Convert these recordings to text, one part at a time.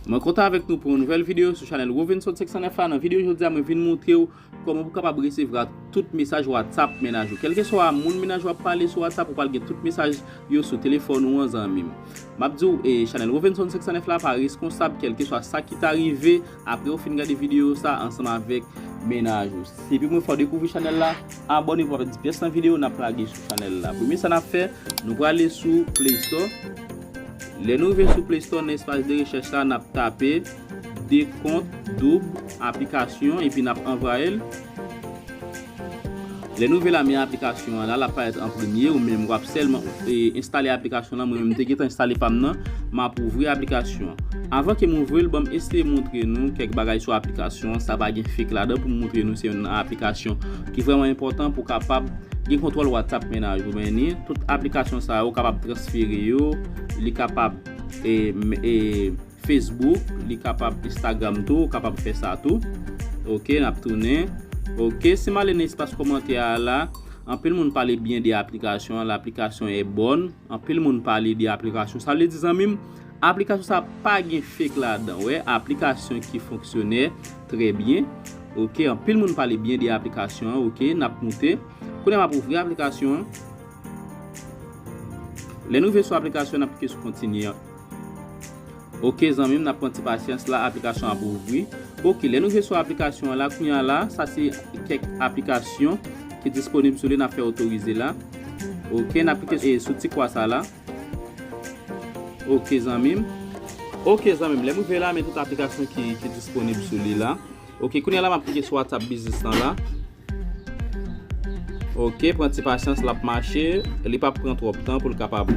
Mwen kontan avèk nou pou yon nouvèl videyo sou chanèl Robinson 509 la, nan videyo jodi a mwen vin montre ou kòman pou kapab resevra tout mesaj WhatsApp mennaj ou. Kèlkeswa moun mennaj ou ap pale sou WhatsApp ou pral gen tout mesaj yo sou telefòn ou an zanmim. Map diw e chanèl Robinson 509 la pa reskonsab kèlkeswa sa ki ta rive Apre ou fin gade videyo sa ansanm avèk mennaj ou, si se premye fwa ou dekouvri chanèl la, abòne pou pa pèdi pyès nan videyo nap lage sou chanèl la. Premye sa nap fè, nou prale sou play store, lè nou rive sou play store nan espas de rechèch la nap tape dekont doub aplikasyon epi nap anvwayel. Lè nou vle lame aplikasyon an la lap parèt an premye ou menm wap sèlman enstale aplikasyon lan mwen menm mte gentan enstale pam nan map ouvri aplikasyon an avan kem ouvril banm eseye moutre nou kèk bagay sou aplikasyon an sa pa gen fake ladan poum moutre nou se youn nan aplikasyon ki vrèman enpòtan pou kapab gen kontwòl whatsapp mennaj ou menni tout aplikasyon sa yo kapab transfere yo li kapab e. Facebook li kapab Instagram tou ou kapab fè sa tou ok nap tounen ok sim ale nan espas kòmantè a la anpil moun pale byen de aplikasyon an laplikasyon an e bòn anpil moun pale de aplikasyon sa vle di zanmim aplikasyon sa pa gen fake ladan wè aplikasyon ki fonksyonè trè byen ok anpil moun pale byen de aplikasyon an ok nap moute kounye a map ouvri aplikasyon an lè nou rive sou aplikasyon an nap klike sou kontinye. Ok zanmi m nap pran ti pasyans la aplikasyon ap ouvri ok lè nou jwe sou aplikasyon an la kounya la sa se kèk aplikasyon ki disponib sou li nap fè otorize la ok nap klike sou ti kwa sa la ok zanmi m. Ok zanmi m lèm rive la men tout aplikasyon ki disponib sou li la ok kounya la map klike sou whatsapp biznis lan la. Ok pran ti pasyans lap mache li pap pran trop tan pou l kapab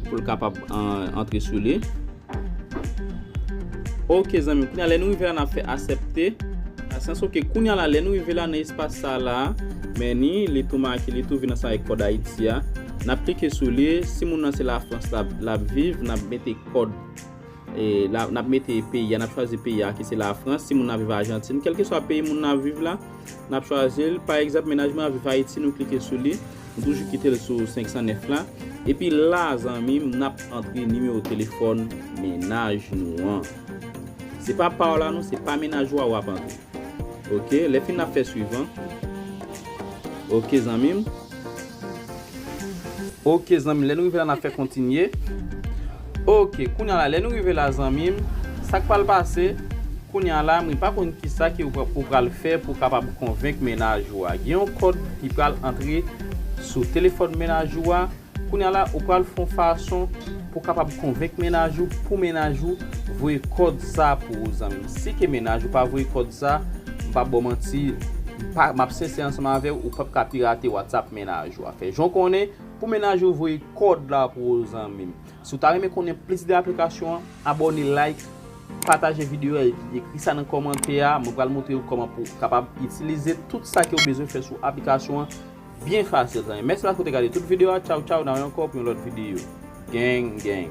pou l kapab antre sou li ok zanmi m kounye lè nou rive la nap fè asèpte pasyans ok kounye la lè nou rive la nan espas sa la meni li tou make li tou vin ansanm avèk kòd ayiti a nap klike sou li si moun nan se lafrans lap viv nap mete kòd. E la nap mete peyi a, nap chwazi peyi a ki se la Frans, si moun nan viv Ajantin, kelke swa peyi moun nan viv la, nap chwazi l, pa egzanp menaj mwen ap viv Ayiti, nou klike sou li, m toujou kite l sou 509 la, epi la zanmi m nap antre nimewo telefòn menaj nou an. Se pa pa w la non, se pa menaj ou a wap antre. Ok, lè fin nap fè swivan. Ok zanmi m. Ok zanmi lè nou rive la nap fè kontinye ok kounya la lè nou rive la zanmim sak pral pase kounya la mwen pa konn kisa ke ou pral fè pou kapab konvenk mennaj ou a gen yon kòd ki pral antre sou telefòn mennaj ou a kounya la ou pral fon fason pou kapab konvenk mennaj ou pou mennaj ou voye kòd sa pou ou zanmim si ke mennaj ou pa voye kòd sa. M pap baw manti, m pa, map sensè ansanm avèw, ou pap ka pirate WhatsApp mennaj ou a. Fè jan w konnen pou mennaj ou voye kòd la pou ou zanmim. Si w ta renmen konnen plis de aplikasyon an, abòne like, pataje videyo a epi ekri sa nan kòmantè a, mwen pral moutre ou kòman pou kapab itilize tout sa ke ou bezwen fè sou aplikasyon an byen fasil zanmim. Mèsi paske w te gade tout videyo a, tchaw tchaw nan wè ankò pou yon lòt videyo. Gang gang.